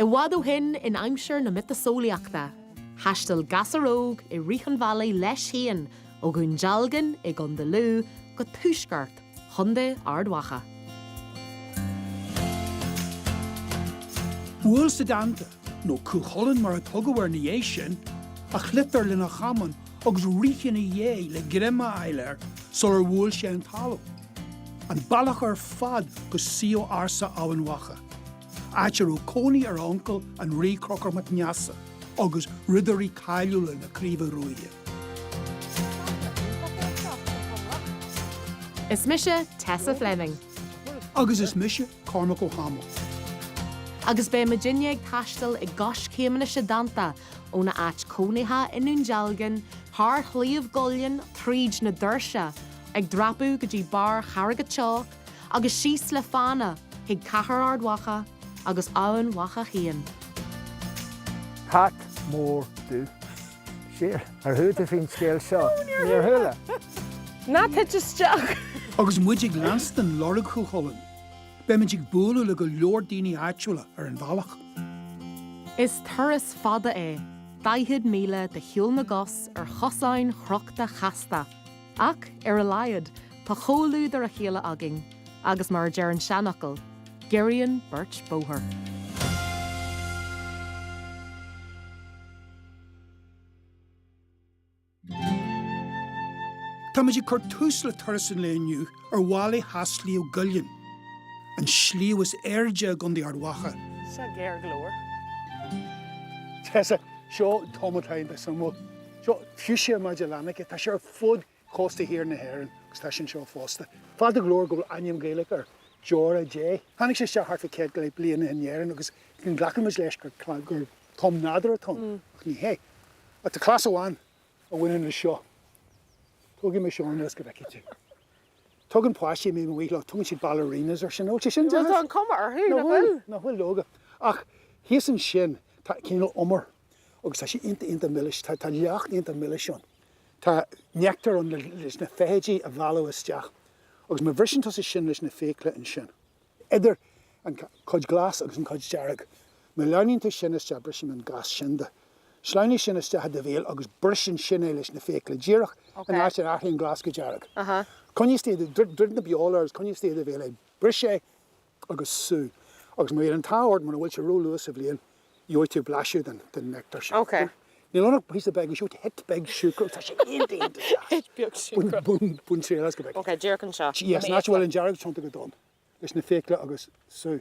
I bhfad ó shin, in aimsir na miotaseolaíochta, thaistil gasúr óg i rith an bhealaigh leis féin ó Dhún Dealgan i gContae Lú go tuaisceart Chontae Ard Mhacha. Bhuail Setanta nó Cú Chulainn mar a tugadh air ina dhiaidh sin, a shliotar lena chamán agus rith ina dhiaidh le greim a fháil air sular bhuail sé an talamh. An bealach ar fad go suíomh ársa Eamhain Mhacha, áit a raibh cónaí ar a uncail, an Rí Conchúr Mac Neasa, agus ridirí cáiliúla na Craoibhe Ruaidhe. Is mise Tessa Fleming. Agus is mise Cormac Ó hAdhmaill. Agus beidh muidinne ag taisteal i gcoiscéimeanna Shetanta, óna áit cónaithe i nDún Dealgan, thar Shliabh gCuillinn, tríd na doirse, ag dreapadh go dtí barr Charraig an tSeabhaic, agus síos le fána chuig Cathair Ard Mhacha agus Eamhain Mhacha féin. Cat mór dubh. Siar, ar chuala tú faoin scéal seo? Níor chuala. Ná tit isteach! Agus muid ag leanstan lorg Chú Chulainn, beimid ag bualadh le go leor daoine áitiúla ar an bhealach. Is turas fada é 40 míle de shiúl na gcos ar chosáin chrochta chasta, ach ar a laghad tá comhluadar a chéile againn agus mar a deir an seanfhocal, giorraíonn beirt bóthar. Táimid ag cur tús le turas an lae inniu ar mhala theas Shliabh gCuillinn, an sliabh is airde i gContae Ard Mhacha. Seo géar go leor. Tessa, seo tom a aithníonn tú, tá súil agam. Seo Fuchsia Magellanica, tá sé ar fud chósta thiar na hÉireann agus tá sé anseo fosta. Fada go leor go bhfuil ainm Gaelach air deora Dé. Tháinig sé isteach thart fá céad go leith bliana in Éirinn agus go nglacann muid leis gur tom nádúrtha atá ann, ach ní hea. Ach tá cleas amháin a bhaineann leis seo. Tógfaidh mé ceann as go bhfeicfidh tú. Tugann páistí, más maith leo, tugann siad ballerinas air sin, nach bhfuil sé sin deas? Bhuel tá an chuma orthu, nach bhfuil? Nach bhfuil, leoga. Ach thíos ansin tá cineál umar. agus tá sé iontach, iontach milis, tá leacht iontach milis ann. Tá neachtar ann leis na feithidí a mhealladh isteach agus má bhriseann tusa sin leis na fiacla ansin, idir an chuid ghlas agus an chuid dhearg, má shleamhnaíonn tú sin isteach, bris an gas sin de, sleamhnaigh sin isteach i do bhéal agus bris ansin é leis na fiacla, díreach an áit ar athraíonn an glas go dearg. Coinnigh istigh, druid na beola air agus coinnigh istigh i do bhéal é, bris é agus sú. Agus má bhíonn an t-ádh ort, mura bhfuil sé ró-luath sa bhliain, gheobhaidh tú blaiseadh den néctar sin. Ok. Níl ann ach píosa beag, ansiúd, hit beag siúcra, tá sé iontach deas. Hit beag siúcra. Bain triail as go bhfeicfidh tú. Ok, díreach anseo, i Yes, mo nach bhfuil fhiacla. an dearg tiontú go dona leis na fiacla agus sú.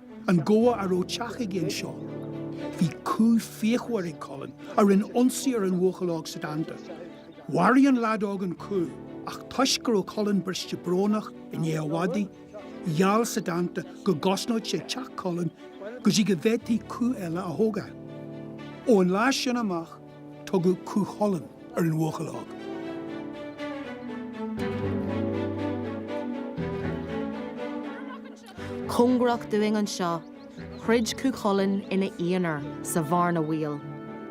An gabha a raibh teach aige anseo. Bhí cú fíochmhar ag Culann a rinne ionsaí ar an bhuachaill óg Setanta. Mharaigh an lead óg an cú ach toisc go raibh Culann briste brónach i ndiaidh a mhadaidh, gheall Setanta go gcosnódh sé teach Culainn go dtí go bhféadfaí cú eile a thógáil. Ón lá sin amach tugadh Cú Chulainn ar an bhuachaill óg. cóngarach dúinn anseo, throid Cú Chulainn ina aonar sa bhearna bhaoil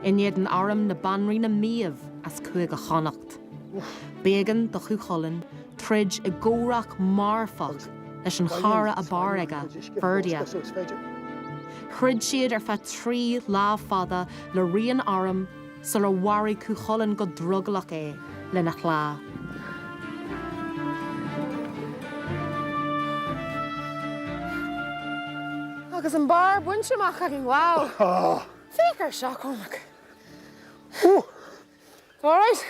in éadan arm na Banríona Méabh as Cúige Chonnacht. B'éigean do Chú Chulainn troid i gcomhrac marfach leis an chara ab fhearr aige, Ferdia. Throid siad ar feadh trí lá fada le rian arm, sular mharaigh Cú Chulainn go drogallach é lena shleá. Agus an barr bainte amach againn, wow! Féach ar seo, Cormac! All right?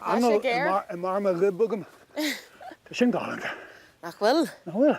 Tá sé géar. Anáil i mbarr mo ghoib agam. Tá sin galánta. Nach bhfuil? Nach bhfuil?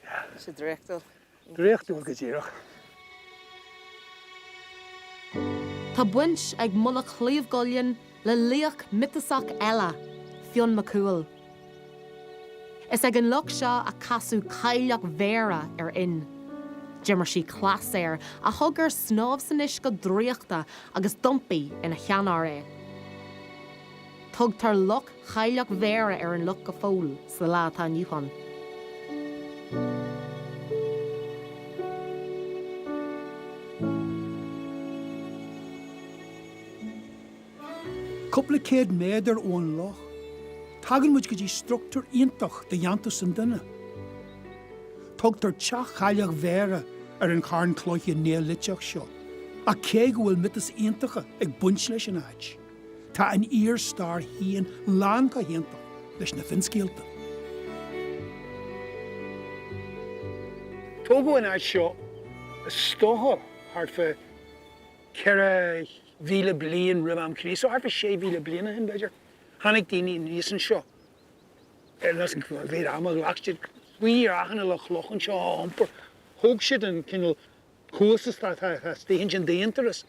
Bhí sé draíochtúil. Draíochtúil go díreach. Tá baint ag Mullach Shliabh gCuillinn le laoch miotasach eile, Fionn Mac Cumhaill. Is ag an loch seo a casadh Cailleach Bhéarra ar Fhionn. D'imir sí cleas air a thug air snámh san uisce draíochta agus d'iompaigh ina sheanfhear é. Tugtar Loch Chailleach Bhéarra ar an loch go fóill sa lá atá inniu ann. Cúpla céad méadar ón loch, tagann muid go dtí struchtúr iontach de dhéantús an duine. Tugtar Teach Chailleach Bhéarra ar an charn cloiche néoiliteach seo, ach cé go bhfuil miotais iontacha ag baint leis an áit, Tá an fhíor-stair féin lán chomh hiontach leis na finscéalta. Tógadh an áit seo is dócha thart fá 4,000 bliain roimh am Chríost, so thart fá 6,000 bliain ó shin, b'fhéidir. Tháinig daoine aníos anseo níl a fhios cá mhéad ama a ghlac siad faoi dhrachanna le clocha anseo a iompar. Thóg siad an cineál cuas atá taobh istigh ansin d'aonturas.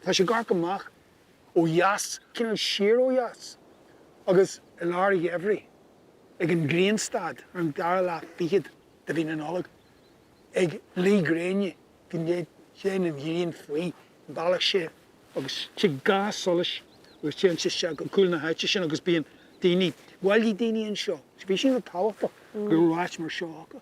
Tá sé ag amharc amach ó dheas, cineál siar ó dheas, agus i lár an gheimhridh, ag an ngrianstad ar an dara lá fichead de mhí na Nollag, ag luí gréine go néata, téann an ghrian faoi bhealach séimh, agus tig ga solais, agus téann sé isteach go cúl na háite sin, agus bíonn daoine, bhailigh daoine anseo, bhí sé an-tábhachtach go raibh áit mar seo acu,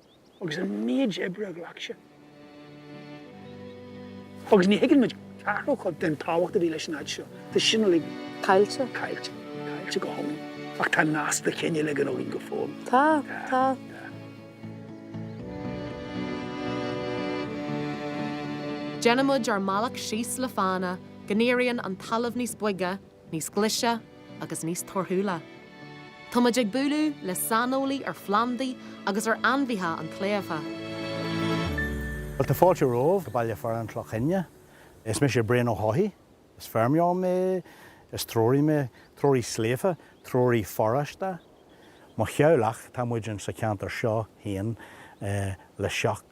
agus an méid oibre a ghlac sé. Agus ní thuigeann muid ceathrú chuid den tábhacht a bhí leis an áit seo. Tá sin uilig caillte caillte caillte go hiomlán. Ach tá nasc de chineál ag an uaimh go fóill. Tá tá. Déanaimid ár mbealach síos le fána go n-éiríonn an talamh níos boige níos glaise agus níos torthúla. Tá muid ag bualadh le saineolaí ar phlandaí agus ar ainmhithe an tsléibhe. Bhuel, tá fáilte romhaibh go baile fearainn Chloch Chinne. Is mise Brian Ó hEochaidh. Is feirmeoir mé. Is treoraí mé. Treoraí sléibhe. Treoraí foráiste. Mo theaghlach, tá muid ins sa cheantar seo féin le seacht.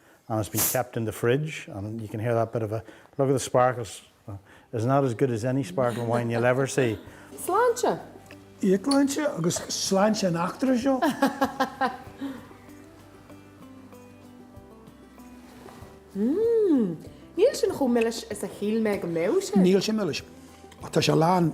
and it's been kept in the fridge and you can hear that bit of a look at the sparkles is not as good as any sparkling wine you'll ever see. Sláinte! Íocshláinte agus sláinte an bhradáin. Hmm, níl sin chomh milis is a shíl mé go mbeadh sé. Níl sé milis. Tá sé lán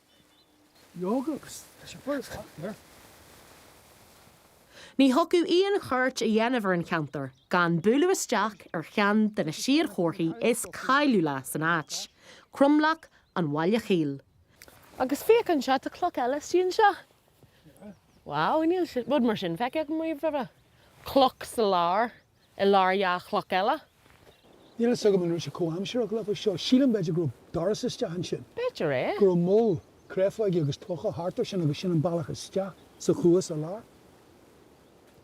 Ní thiocfadh liom chuairt a dhéanamh ar an cheantar gan bualadh isteach ar cheann de na séadchomharthaí is cáiliúla san áit, Cromleac an Bhaile Chaoil. Agus féach anseo, tá cloch eile istigh anseo. Wow, níl rud mar sin feicthe agam riamh roimhe. Cloch sa lár. i lár dhá chloch eile. Níl a fhios agam an raibh sé comhaimsireach leo seo. Sílim, b'fhéidir, go raibh doras isteach ansin. B'fhéidir é. Go raibh moll créafóige agus clocha thart ar sin agus sin an bealach isteach sa chuas ar lár.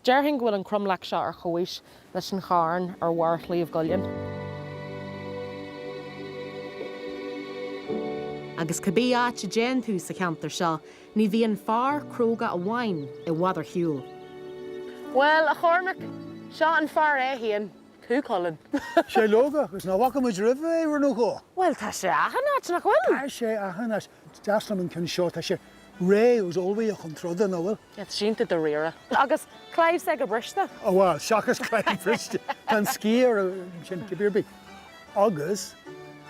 Déarfainn go bhfuil an cromleac seo ar chomhaois leis an charn ar bharr Shliabh gCuillinn. Agus cibé áit a dtéann tú sa cheantar seo, Ní bhíonn fear cróga amháin i bhfad ar shiúl. Bhuel, a Chormaic, seo an fear é fhéin, Cú Chulainn. Sé leoga, agus nach bhfaca muid roimhe é, uair nó dhó. Bhuel, tá sé achan áit, nach bhfuil? Tá sé achan áit. Deas liom an ceann seo, tá sé réidh agus ullmhaithe chun troda, nach bhfuil? Tá cinnte dáiríre. Agus claíomh s'aige briste. Ó bhuel, seachas claíomh briste, tá an sciath air ansin, cibé ar bith. Agus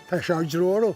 tá sé ár dtreorú.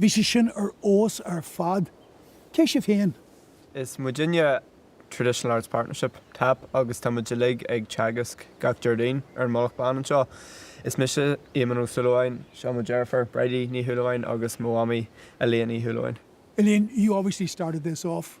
Bhí sé sin ar fheabhas ar fad. Cé sibh féin? Is muidinne Traditional Arts Partnership, tap, agus tá muid uilig ag teagasc gach Déardaoin ar an Mhullach Bán anseo. Is mise Éamonn Ó Súilleabháin, seo mo dheirfiúr Bridie Ní Shúilleabháin agus mo mhamaí Elaine Uí Shúilleabháin. Elaine, you obviously started this off.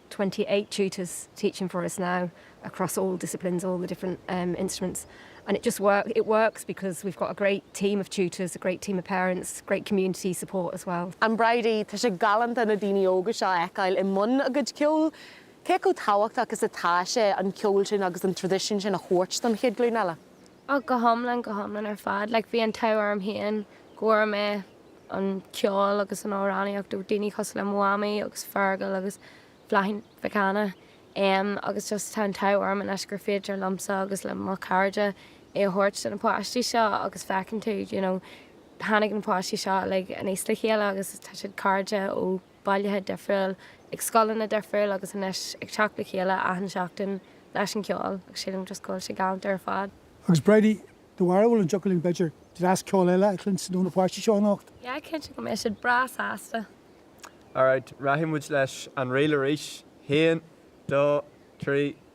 28 tutors teaching for us now across all disciplines, all the different instruments and it just works, it works because we've got a great team of tutors, a great team of parents, great community support as well. And Bridie, tá sé galánta na daoine óga seo a fheiceáil i mbun a gcuid ceoil. Cé chomh tábhachtach is atá sé an ceol sin agus an traidisiún sin a thabhairt don chéad ghlúin eile? Oh, go hiomlán, go hiomlán ar fad. Like, bhí an t-ádh orm féin go bhfuair mé an ceol agus an amhránaíocht ó daoine cosúil le mo mhamaí agus Fergal agus Bláithín Mhic Cana. Em, agus just tá an t-ádh orm anois gur féidir liomsa agus le mo chairde é a thabhairt do na páistí seo agus feiceann tú, you know, tháinig na páistí seo uilig aníos le chéile agus tá siad cairde ó bailte difriúil, ag scoileanna difriúil agus anois ag teacht le chéile achan seachtain leis an gceol agus sílim just go bhfuil sé galánta ar fad. Agus Bridie, do bharúil an dtiocfadh linn b'fhéidir dreas ceoil eile a chluinstin ó na páistí seo anocht? Yeah, cinnte go mbeidh siad breá sásta. Alright, rachaidh muid leis an ríl arís. Haon, dó, trí.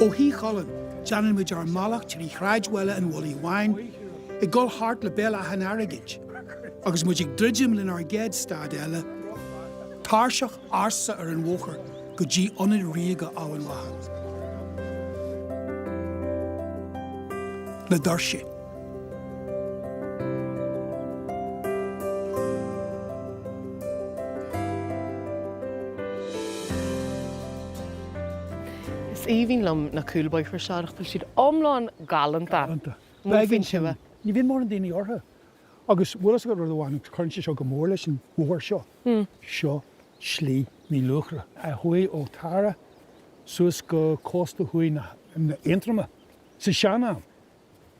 Ó Thí Chulainn, déanann muid ár mbealach trí shráidbhaile an Mhullaigh Bháin, ag dul thart le Béal Átha an Airgid, agus muid ag druidim lenár gcéad stad eile, tairseach ársa ar an bhóthar go dtí Ionad Ríoga Eamhain Mhacha. Na Doirse. Is aoibhinn liom na cúlbóithre seo, tá siad iomlán galánta. Galánta. Bheadh an sin. Ní bhíonn mórán daoine orthu. Agus bhfuil a fhios agat rud amháin, cuireann sé seo go mór leis an bhóthar seo. Seo Slí Midhluachra a chuaigh ó Tara suas go cósta thuaidh na hAontroma sa sean-am.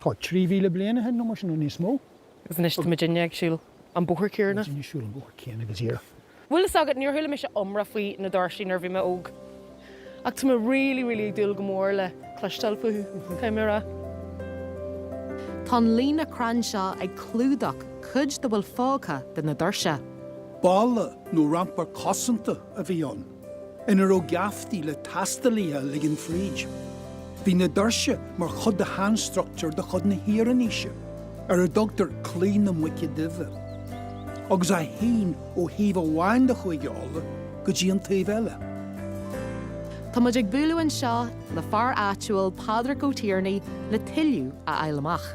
tá 3,000 bliain aici nó mar sin nó níos mó. Agus anois tá muidinne ag siúl an bóthar céanna. Muidinne ag siúl an bóthar céanna go díreach. Bhfuil a fhios agat, níor chuala mise iomrá faoi na Doirse nuair a bhí mé óg. Ach tá mé really, really ag dúil go mór le cloisteáil fúthu, caithfidh mé a rá. Tá an líne crann seo ag clúdach cuid dá bhfuil fágtha de na doirse. Balla nó rampar cosanta a bhí ann. ina raibh geaftaí le taistealaithe a ligean fríd. Bhí na doirse mar chuid de shainstruchtúr de chuid na hIarannaoise, ar a dtugtar Claí na Muice Duibhe, agus a shín ó thaobh amháin de Chúige Uladh go dtí an taobh eile. Tá muid ag bualadh anseo le fear áitiúil, Pádraig Ó Tiarnaigh, le tuilleadh a fháil amach.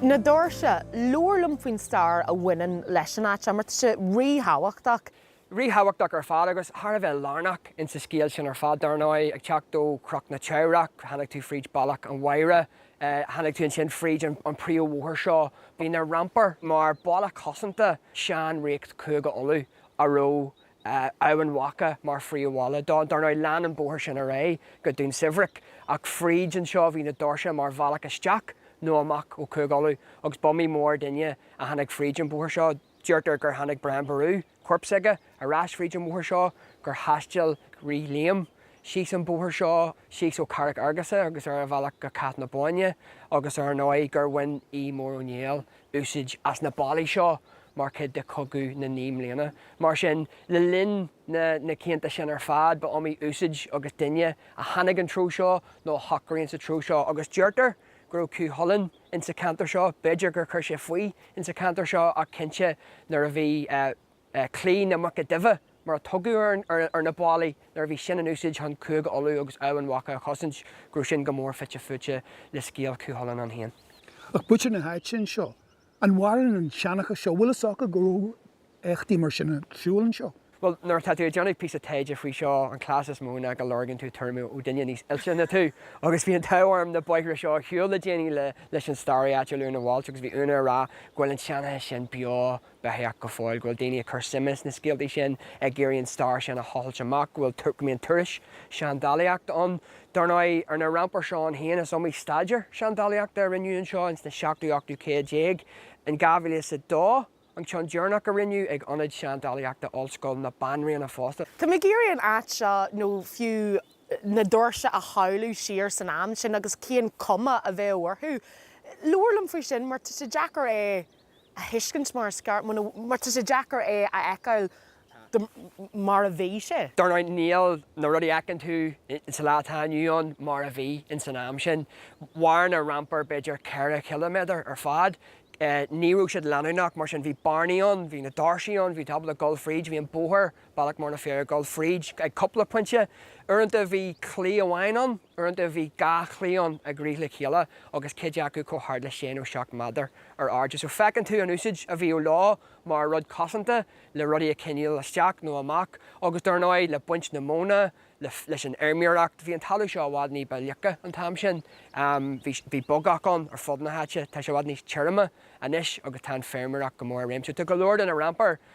Na doirse, labhair liom faoin stair a bhaineann leis an áit seo, mar tá sé ríthábhachtach. Ríthábhachtach ar fad agus thar a bheith lárnach insa scéal sin ar fad, dar ndóigh. Ag teacht ó Chnoc na Teamhrach, tháinig tú fríd Bealach an Mhaighre, tháinig tú ansin fríd an príomhbhóthar seo. Bhí na rampair mar bhalla cosanta sean-ríocht Chúige Uladh a raibh Eamhain Mhacha mar phríomhbhaile dó. Dar ndóigh, lean an bóthar sin ar aghaidh go Dún Sobhairce, ach fríd anseo bhí na doirse mar bhealach isteach nó amach ó Chúige Uladh, agus b'iomaí mór duine a tháinig fríd an bhóthar seo. Deirtear gur tháinig Brian Ború, corp s'aige, ar ais fríd an bhóthar seo, gur thaistil Rí Liam síos an bóthar seo, síos ó Charraic Fheargusa agus ar a bhealach go Cath na Bóinne, agus ar ndóigh gur bhain Aodh Mór Ó Néill úsáid as na bealaí seo mar chuid de Chogadh na Naoi mBliana. Mar sin, le linn na na cianta sin ar fad, ba iomaí úsáid agus duine a tháinig an treo seo nó a shocraigh sa treo seo agus deirtear go raibh Cú Chulainn insa cheantar seo, b'fhéidir gur chuir sé faoi insa cheantar seo ach cinnte nuair a bhí eh. Claí na Muice Duibhe, mar a tugadh ar na ballaí nuair a bhí sin in úsáid chun Cúige Uladh agus Eamhain Mhacha a chosaint, go raibh sin go mór fite fuaite le scéal Chú Chulainn é féin. Ach muintir na háite anseo. An mhaireann an seanchas seo? Bhfuil fhios acu go raibh éachtaí mar sin ar siúl anseo? Bhuel, nuair atá tú ag déanamh píosa taighde faoi seo, an cleas is mó ná go lorgaíonn tú tuairim ó duine níos oilte ná tú. Agus bhí an t-ádh orm na bóithre seo a shiúl le déanaí leis an staraí áitiúil Úna Walsh agus bhí Úna ag rá go bhfuil an seanchas sin beo beathach go fóill go bhfuil daoine ag cur suime sna scéaltaí sin, ag iarraidh an stair sin a thochailt amach, go mbíonn turais seandálaíochta ann. Dar ndóigh, ar na rampair seo iad féin is iomaí staidéar seandálaíochta a rinneadh anseo in sna seachtú, ochtú céad déag. In dhá mhíle is a dó an ceann deireanach a rinneadh, ag Ionad Seandálaíochta Ollscoil na Banríona fosta. Tá mé ag iarraidh an áit seo, nó fiú na doirse a shamhlú siar san am sin agus cén chuma a bheadh orthu. Labhair liom faoi sin mar tá sé deacair é a thuiscint mar is ceart, mar tá sé deacair é a fheiceáil mar a bhí sé. Dar ndóigh, níl na rudaí a fheiceann tú sa lá atá inniu ann mar a bhí ins an am sin. Mhair na rampair b'fhéidir ceithre chiliméadar ar fad. Ní raibh siad leanúnach, mar sin bhí bearnaí ann, bhí na doirse ann, bhí tú ábalta dul fríd, bhí an bóthar Bealach mór na bhfear ag dul fríd ag cúpla pointe. Uaireanta bhí claí amháin ann, uaireanta bhí dhá chlaí ann ag rith le chéile agus cuid acu chomh hard le sé nó seacht méadar ar airde. So feiceann tú an úsáid a bhíodh leo mar rud cosanta le rudaí a choinneáil isteach nó amach agus dár ndóigh le baint na móna, leis an fheirmeoireacht. Bhí an talamh seo i bhfad ní ba fhliucha an t-am sin, bhí bogach ann ar fud na háite, tá sé i bhfad níos tirime anois agus tá an feirmeoireacht go mór i réim. So tá go leor de na rampair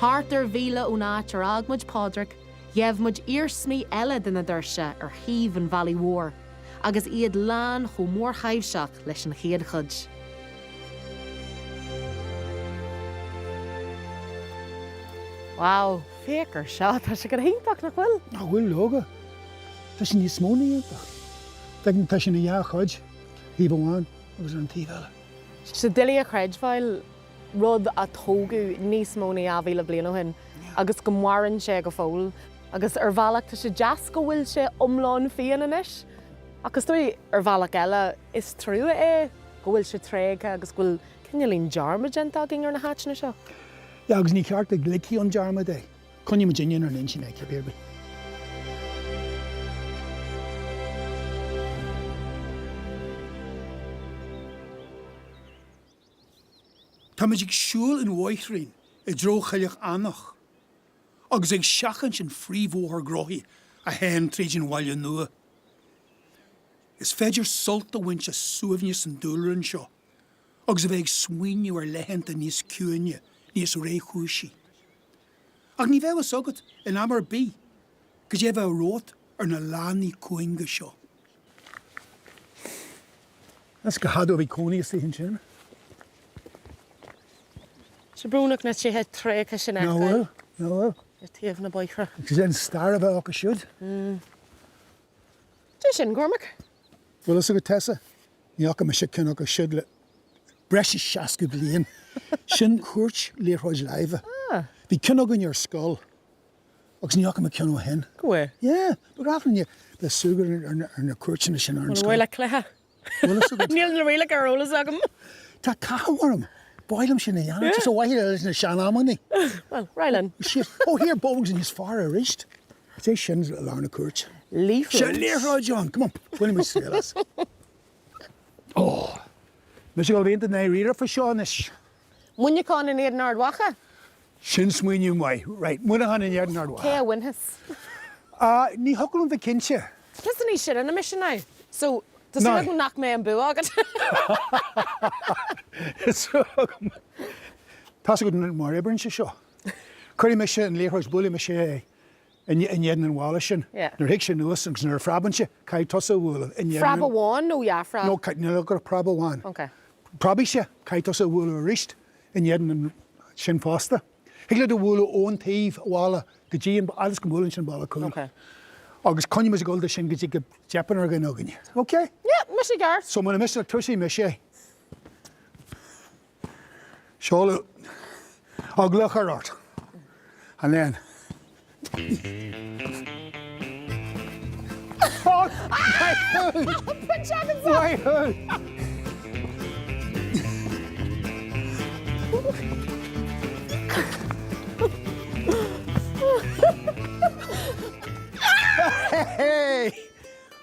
Thart ar mhíle ón áit ar fhág muid Pádraic, gheibh muid iarsmaí eile de na Doirse ar thaobh an bhealaigh mhóir, agus iad lán chomh mórthaibhseach leis an chéad chuid. Wow, féach ar seo! Tá sé go hiontach, nach bhfuil? Ó tá, leoga. Tá sé níos mó na hiontach. Tá sé ina dhá chuid. thaobh amháin agus ar an taobh eile. Is doiligh a chreidbheáil, rud a tógadh níos mó na 2,000 bliain ó shin agus go maireann sé go fóill, agus ar bhealach tá sé deas go bhfuil sé iomlán fiáin anois, ach is dóigh ar bhealach eile is trua é go bhfuil sé tréigthe agus go bhfuil cineál de dhearmad déanta againn ar na háiteanna seo. Yeah, agus ní ceart go ligfí i ndearmad é. Coinneoidh muid inár n-intinn é, pé ar bith. Táimid ag siúl an bhóithrín i dtreo Choilleach Eanach agus ag seachaint an phríomhbhóthar gnóthaí a théann tríd an bhaile nua. Is féidir sult a bhaint as suaimhneas an dúlra anseo agus a bheith ag smaoineamh ar laethanta níos ciúine, níos réchúisí. Ach ní bheidh fhios agat in am ar bith cad é a bheidh romhat ar na lánaí cúinge seo. Is fada ó bhí cónaí istigh ansin. Is brónach na tithe tréigthe sin a fheiceáil ar thaobh na bóithre. Is é an stair a bheith acu siúd. Cé sin, Cormac? Bhfuil fhios agat, Tessa? Ní fhaca mise ceann acu siúd le breis is seasca bliain. Sin cúirt liathróid láimhe. Bhí ceann againn ar scoil agus ní fhaca mé ceann ó shin. Yeah, ba ghnách linne bheith súgradh ar na cúirteanna sin ar an scoil. An bhfuil cluiche? Níl na rialacha ar eolas agam. Tá cathú orm. Ba mhaith liom sin a dhéanamh. Ar mhaithe leis na sean-amannaí. Bhuel, ar aghaidh linn. Sea. Ó, thiar, bogs níos fearr aríst. Is é sin lár na cúirte. Liathróid. Liathróid John! Come on, bainimis triail as. Oh! Mise go bhfuil aon dna riaradh faoi seo anois. Muineachán in éadan Ard Mhacha? Sin smaoineamh maith. Right, Muineachán in éadan Ard Mhacha. Cé a bhainfeas? Ah, ní thiocfadh liom bheith cinnte. Píosa níos sine na mise now. So, tá súil agam nach mbeidh an bua agat. Tá súil agam. Tá's agat mar a oibríonn sé seo. Cuirfidh mise an liathróid, buailfidh mise é in éadan an bhalla sin. Nuair a thig sé anuas agus nuair a phreabann sé, caithfidh tusa a bhualadh in éadan an... Phreab amháin nó dhá phreab? No, níl ach preab amháin. Ok. Preabfaidh sé, caithfidh tusa a bhualadh aríst in éadan an... sin fosta. Thig leat a bhualadh ón taobh an bhalla a fhad is go mbuaileann sé an balla cúil. Ok. Agus coinneoidh muid ag dul de sin go dtí go dteipeann ar dhuine againn. Ok? Yeah, maith go leor. So, muna miste, toiseoidh mise. Seoladh Á gclochar ort, a léan. Hei!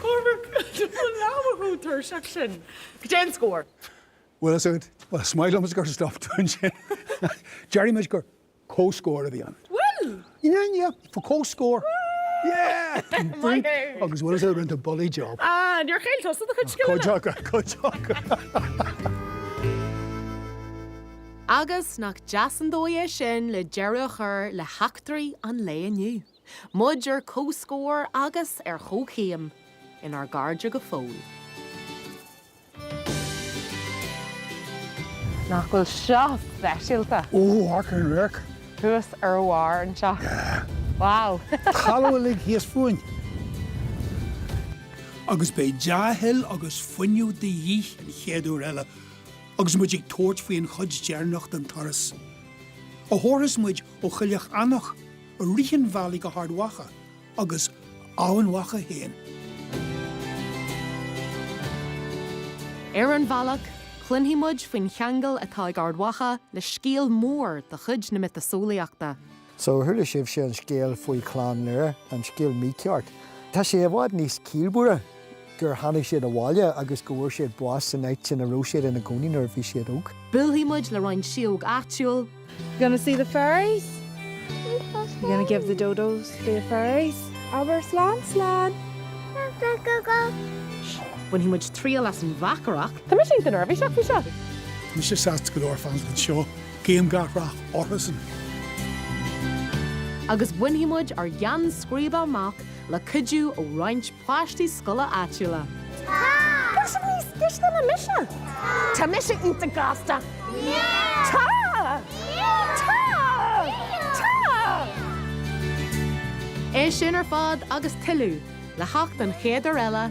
Cormac, An leanbh chomh tuirseach sin. Goidé an scór. Bhuel, is ait. Is maith liom is gur stop tú ansin. Déarfaidh muid gur comhscór a bhí ann. Bhuel! In ainneoin an chomhscóir, agus bhfuil sé ráite bulaí job. Ah, níor cheilt tusa do chuid scileanna! Go dearfa, go dearfa. Agus nach deas an dóigh é sin le deireadh a chur le heachtraí an lae inniu, muid ar chomhscór agus ar chomhchéim inár gcairde go fóill. Nach bhfuil seo speisialta! Ooh what a wreck! Thuas ar bharr anseo. Yeah! Wow! Talamh uilig thíos fúinn. Agus beidh dea-thoil agus fuinneamh de dhíth an chéad uair eile agus muid ag tabhairt faoi an chuid deireanach den turas, a thabharfas muid ó Choilleach Eanach, i rith an bhealaigh go hArd Mhacha, agus Eamhain Mhacha féin. Ar an bhealach, cluinfidh muid faoin cheangal atá ag Ard Mhacha le scéal mór de chuid na miotaseolaíochta. So, chuala sibhse an scéal faoi Chlann Lir, an scéal mícheart. Tá sé i bhfad níos casta. gur tháinig siad abhaile agus go bhfuair siad bás san áit ina raibh siad ina gcónaí nuair a bhí siad óg. Buailfidh muid le roinnt sióg áitiúil. You gonna see the fairies? You gonna give the dodos to the fairies? Abair slán slán! Bainfidh muid triail as an mbeachaireacht. Tá mise go neirbhíseach faoi seo! Mise sásta go leor fanacht anseo, guím gach rath orthusan! Agus bainfidh muid ár gceannscríbe amach! le cuidiú ó roinnt páistí scoile áitiúla. Tá! Tá sibh níos cliste ná mise? Tá! Tá mise iontach gasta! Yeah! Tá! Yeah! Tá! Yeah! Tá! É sin ar fad agus tuilleadh, le theacht an chéad uair eile.